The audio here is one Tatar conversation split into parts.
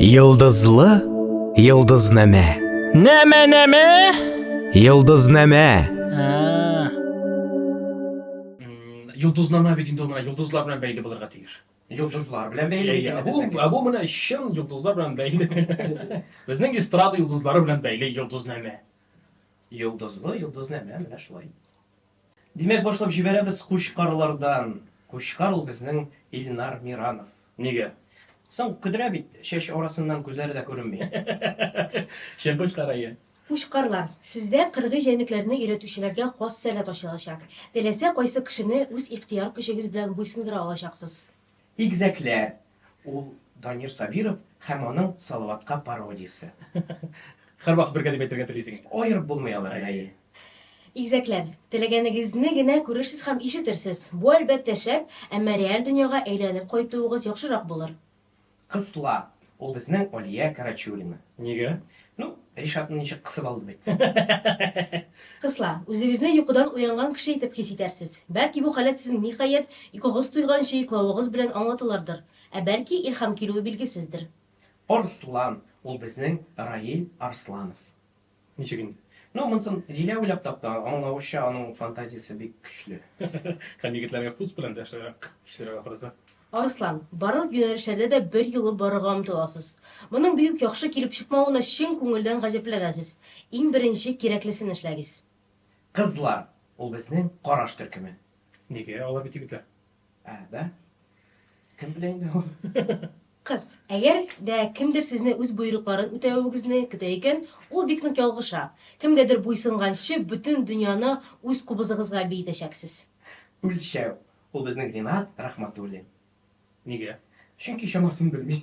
Йылдызлы йылдызнамә. Нәмә нәмә? Йылдызнамә. Йолдызнама бит инде ул менә йолдызлар белән бәйле булырга тиеш. Йолдызлар белән бәйле икән. Ә бу ә бу менә чын йолдызлар белән бәйле. Безнең эстрада йолдызлары белән бәйле йолдызнамә. Йолдызлы йолдызнамә менә шулай. Димәк, башлап җибәрәбез Кучкарлардан. Кучкар ул безнең Илнар Миранов. Нигә? Соң, көдрә бит, чәч арасыннан күзләре дә күренми. Чын Кучкар, әйе. Кучкарлар, сездә кыргый җәнлекләрне өйрәтүчеләргә хас сәләт ачылачак. Теләсә кайсы кешене үз ихтыяр көчегез белән буйсындыра алачаксыз. Игезәкләр, ул Данир Сабиров һәм аның Салаватка пародиясе. Һәрвакыт бергә дип әйтергә телисең. Аерып булмый алар, әйе. Игезәкләр, теләгәнегезне генә күрерсез һәм ишетерсез. Бу, әлбәттә, шәп, әмма реаль дөньяга әйләнеп кайтуыгыз яхшырак булыр. Кысла. Ул безнең Алия Карачурина. Нигә? Ну, Ришатны ничек кысып алды бит. Кызла, үзегезне йокыдан уянган кеше итеп хис итәрсез. Бәлки бу халәт сезнең ниһаять, йокыгыз туйганчы йоклавыгыз белән аңлатылырдыр. Ә бәлки, илһам килүе билгесездер. Арслан, ул безнең Раил Арсланов. Ничек инде? Ну, монсын Зилә уйлап тапты, аңлавычча, аның фантазиясе бик көчле. Һәм егетләргә фуз белән дә ошыграк, кешеләргә ахрысы. Арыслан, барлык юнәлешләрдә дә бер юлы барырга омтыласыз. Моның бик үк яхшы килеп чыкмавына чын күңелдән гаҗәпләнәсез. Иң беренче кирәклесен эшләгез. Кызлар, ул безнең караш төркеме. Нигә? Алар бит егетләр. Ә, да? Кем белә инде ул? Кыз, әгәр дә кемдер сезне үз боерыкларын үтәвегезне көтә икән, ул бик нык ялгыша. Кемгәдер буйсынганчы, бөтен дөньяны үз кубызыгызга биетәчәксез. Үлчәү, ул безнең Ринат Рахматуллин. Нигә? Чөнки чамасын белми.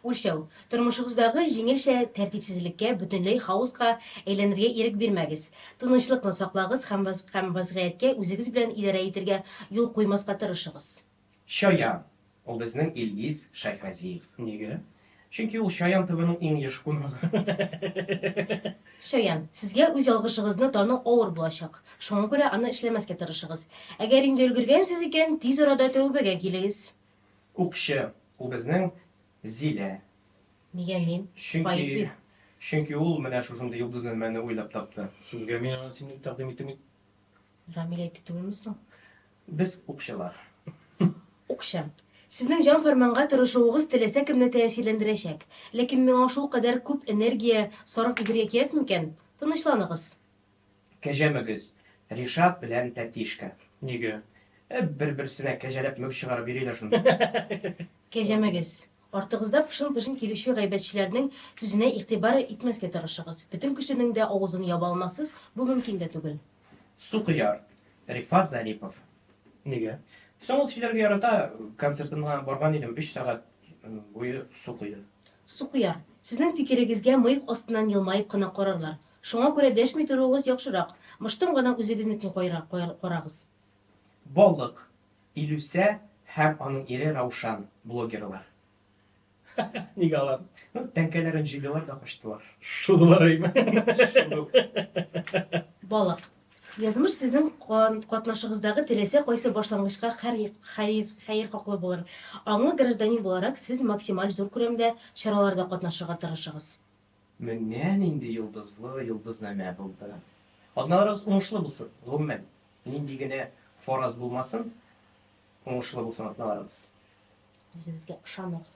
Үлчәү. Тормышыгыздагы җиңелчә тәртипсезлеккә, бөтенләй хаоска әйләнергә ирек бирмәгез. Тынычлыкны саклагыз һәм һәм вазгыятькә үзегез белән идарә итергә юл куймаска тырышыгыз. Чаян. Ул безнең Илгиз Шәйхразиев. Нигә? Чөнки ул Чаян ТВның иң еш кунагы. Чаян. Сезгә үз ялгышыгызны тану авыр булачак. Шуңа күрә аны эшләмәскә тырышыгыз. Әгәр инде өлгергәнсез икән, тиз арада тәүбәгә килегез. Укчы, ул безнең Зилә. Нигә мин? Чөнки, чөнки ул менә шушындый йолдызнамәне уйлап тапты. Нигә мин аны сине тәкъдим итим бит? Рамил әйтте түгелме соң? Без укчылар. Укчы. Сезнең җан фәрманга тырышуыгыз теләсә кемне тәэсирләндерәчәк. Ләкин миңа шулкадәр күп энергия сарыф итәргә кирәкме икән? Тынычланыгыз. Кәҗә мөгез, Ришат белән Тәтишка. Нигә? Ә бер-берсенә кәҗәләп мөгез чыгарып йөриләр шунда. Кәҗә мөгез, Артыгызда пышын-пышын килүче гайбәтчеләрнең сүзенә игътибар итмәскә тырышыгыз. Бөтен кешенең дә авызын яба алмассыз, бу мөмкин дә түгел. Су кояр, Рифат Зарипов. Нигә? Соң ул сөйләргә ярата, концертына барган идем, өч сәгать буе су койды. Су кояр, Сезнең фикерегезгә мыек астыннан елмаеп кына карарлар. Шуңа күрә дәшми торуыгыз яхшырак. Мыштым гына үзегезнекен карагыз. Балык, Илүсә һәм аның ире Раушан, блогерлар. Ха-ха, ник алар? Ну, тәңкәләрен җыйдылар да качтылар. Шудылар әйме? Шуду. Балык, Язмыш сезнең катнашыгыздагы теләсә кайсы башлангычка хәер хаклы булыр. Аңлы гражданин буларак, сез максималь зур күләмдә чараларда катнашырга тырышыгыз. Менә нинди йолдызлы йолдызнамә булды! Атналарыгыз уңышлы булсын! Гомумән, нинди генә фараз булмасын, уңышлы булсын атналарыгыз! Үзегезгә ышаныгыз!